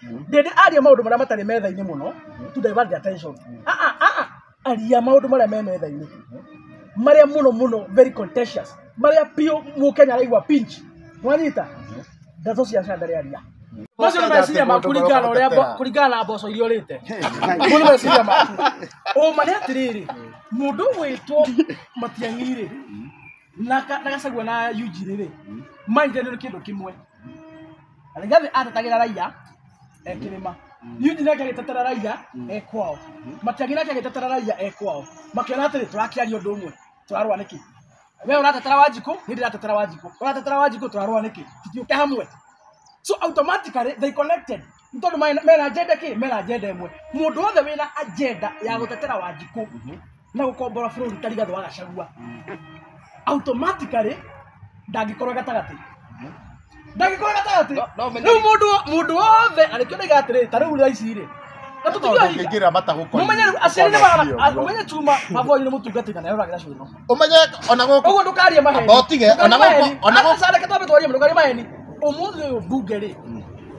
ndĩndĩ aria maũndũ marĩa matarĩ metha-inĩ mũno to divert the attention Ah, ah, ah, ah. aria maũndũ marĩa me metha-inĩ marĩa mũno mũno very contentious marĩa biũ mũkenya araigua pinch mwanyita ndeto cia candare aria macio nĩ meciria maku kũringana na ũrĩa mbo- kũringana na mboco iria ũrĩte Mau nĩ meciria maku ũma nĩ atĩrĩrĩ mũndũ wĩtwo matiang'i-rĩ na ka- na gacagua na yunjirĩ rĩ maithanio nĩ kĩndũ kĩmwe rigathi atetagĩra raiya e kĩrĩma yunji nake agĩtetera raiya e kwao matiang'i nake agĩtetera raiya e kwao makĩona atĩrĩ tũrakĩaria ũndũ ũmwe tũrarũa nĩkĩ we ũratetera wanjikũ nĩ ndĩratetera wanjikũ ũratetera wanjikũ tũrarũa nĩkĩ tũtiũke hamwe so automatically they connected Nĩ tondũ mena- mena agenda kĩ mena agenda ĩmwe mũndũ wothe wĩna agenda ya gũtetera wanjikũ na gũkombora bũrũri ta rigathĩ wa gacagua automatically ndangĩkorwo gatagatĩ ndangĩkorwo gatagatĩ No- no menye- rĩu mũndũ wo- mũndũ wothe arĩkĩonega atĩrĩ ta rĩu raici rĩ na tũtigio hinya Ũngĩingĩra matagũkora. mũmenye rĩu aciari nĩ Ũkona hiyo, magana ũmenye chuma maboi nĩ mũtungatĩga nayo ũragĩra cũrũ Ũmenye ona gũkũ ũguo ndũkarie maheni Amba ũtige, ona gũkũ- ona gũkũ- acareke twambe twarie ndũkarie maheni ũmũthĩ ũyũ mbunge rĩ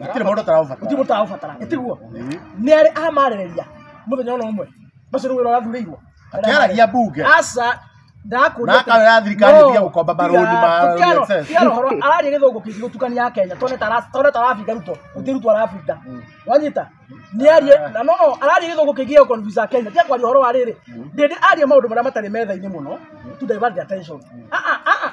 gũtirĩ mũndũ ũtaraũbatara gũtirĩ mũndũ ũtaraũbatara gĩtiguo nĩ arĩ amarĩrĩria mũthenya ona ũmwe macio nĩ wĩra ũrathurĩirwo akĩaragia mbunge aca ndakũria Na akawe ya thirikari ĩtige gũkomba marũni ma NSS. tigarohoro araria gĩthũngũ kĩingĩ gũtukania ya kenya tone tara- tone tarabinga ruto gũtirĩ ruto arabinga wanyita nĩ arie na no no araria gĩthũngũ kĩingĩ gĩa kũnvisa kenya tiga kwaria ũhoro wa rĩrĩ ndĩndĩ aria maũndũ marĩa matarĩ metha-inĩ mũno to divert the attention Ah, ah, ah, ah.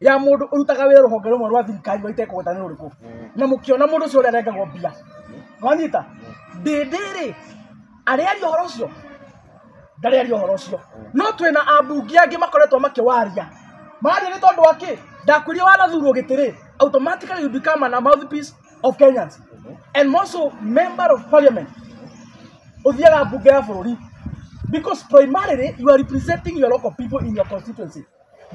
ya mundu urutaga wira ruhonge rumwe rwa thirikari waitekugweta ni ruriku na mukiona mundu ucio uria arengagwo mbia wanyita ndindi ri ariaria uhoro ucio ndariaria uhoro ucio no twina ambungi angi makoretwo makiwaria maria ni tondu wa ki ndakwirie wanathurwo giti ri automatically you become an mouthpiece of kenyans and also member of parliament uthiaga mbunge ya bururi because primarily you are representing your local people in your constituency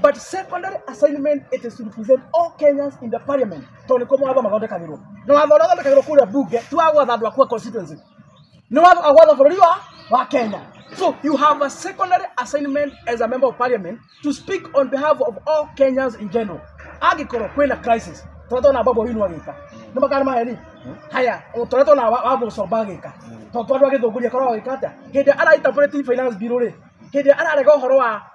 but secondary assignment it is to represent all Kenyans in the parliament tondũ nĩkuo mawatho mathondekagĩrwo na watho ũrĩa ũthondekagĩrwo kũrĩa bunge ti wa gwatha andũ akuwa constituency nĩ watho wa gwatha bũrũri wa wa Kenya so you have a secondary assignment as a member of parliament to speak on behalf of all Kenyans in general angĩkorwo kwĩna crisis tondũ tona babu winu agĩka nĩ makana maheri haya tondũ tona wa gũcomba agĩka tondũ andũ agĩthũngũria korwo agĩka atĩa hĩndĩ araita finance bill rĩ hĩndĩ ararega ũhoro wa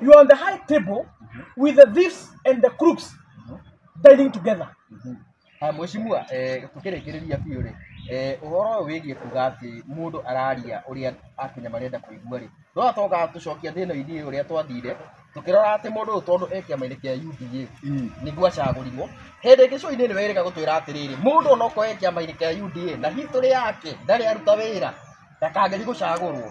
You are on the high table with the thieves and the crooks dining together. Ah, Mheshimiwa, eh, tũkĩrĩkĩrĩria biũ rĩ eh, ũhoro ũyũ wĩgiĩ kuga atĩ mũndũ araria ũrĩa akenya marenda kũigua rĩ no atoka tũcokia thĩna ithiĩ ũrĩa twathire tũkĩrora atĩ mũndũ ũyũ tondũ e kĩama-inĩ kĩa UDA nĩguo acagũrirwo hĩndĩ ĩngĩ coinĩ nĩ werĩga gũtwĩra atĩrĩrĩ mũndũ ona okorwo e kĩama-inĩ kĩa UDA na history yake ndarĩ aruta wĩra ndakangethi gũcagũrwo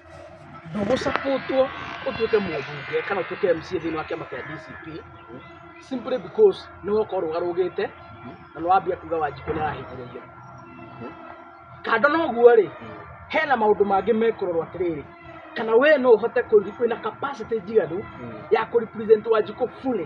ndũgũsapotwo ũtuĩke mũbunge kana ũtuĩke MCA thĩinĩ wa kĩama kĩa DCP simply because nĩ woka ũrũgarũgĩte na nĩ wambia kuga wanjikũ nĩ arahĩngĩrĩria kando na ũguo rĩ hena maũndũ mangĩ mekũrorwo atĩrĩrĩ kana we no ũhote kũ- wĩna capacity njiganu ya kũ represent wanjikũ fully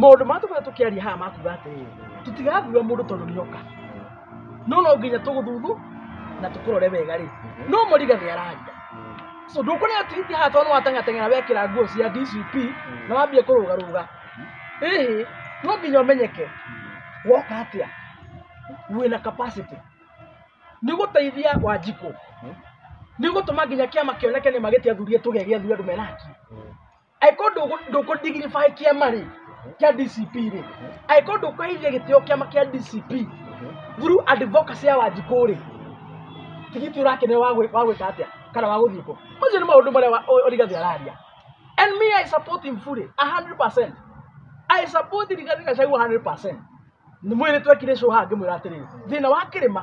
maũndũ marĩa tũkoretwo tũkĩaria haha makuga atĩrĩrĩ tũtigathura mũndũ tondũ nĩ oka no no nginya tũgũthuthu na tũkũrore wega rĩ no mũriga nĩ araria so ndũkuona tweet haha tondũ watangateng'era wekĩra nguo cia DCP na wambia kũrũga rũga ĩhĩ no nginya ũmenyeke woka atĩa wĩna capacity nĩ gũteithia wanjikũ nĩ gũtũma nginya kĩama kĩoneke nĩ magĩtia athuri tũgĩa gĩa athuri andũ mena haki angĩkorwo ndũkũ- ndũkũdigirify kĩama rĩ kĩa dcp rĩ angĩkorwo ndũkũheithia gĩtĩo kĩama kĩa dcp through advocacy ya wanjikũ rĩ tigiti ũrakenera wa gwĩ- wa gwĩka atĩa kana wa gũthiĩ kũ macio nĩ maũndũ marĩa wa- o- origathi araria and me i support him fully 100% i support rigathi gacagua 100% nĩ mwĩrĩ twekire show haha ngĩmwĩra atĩrĩrĩ thĩna wa kĩrĩma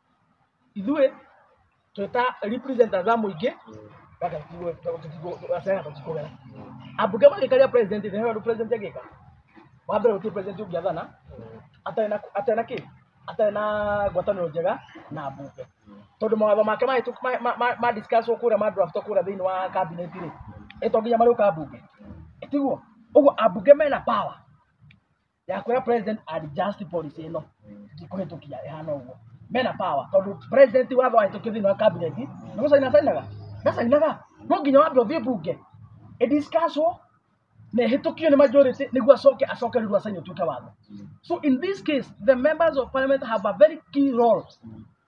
ithuĩ twĩta representatives a mũingĩ gacena tũtikũgera ambunge magĩkaria president thĩ nĩyo president agĩka wa mbere gũtirĩ president ũngĩathana atarĩ na atarĩ na kĩ atarĩ na ngwatanĩro njega na ambunge tondũ mawatho make mahĩtũk- ma- ma- ma- ma discuss wo kũrĩa ma draft wo kũrĩa thĩinĩ wa cabinet rĩ ĩto nginya marĩũka ambunge tiguo ũguo ambunge mena power yakwira president adjust policy ino ndikuhitukia ihana uguo mena power tondu president watho ahitukie thiini wa cabinet ni gucaina cainaga ndacainaga no nginya wambe uthie bunge idiscusswo na ihĩtũkio nĩ majority nĩguo acoke acoke rĩu acaini ũtuĩke watho so in this case the members of parliament have a very key role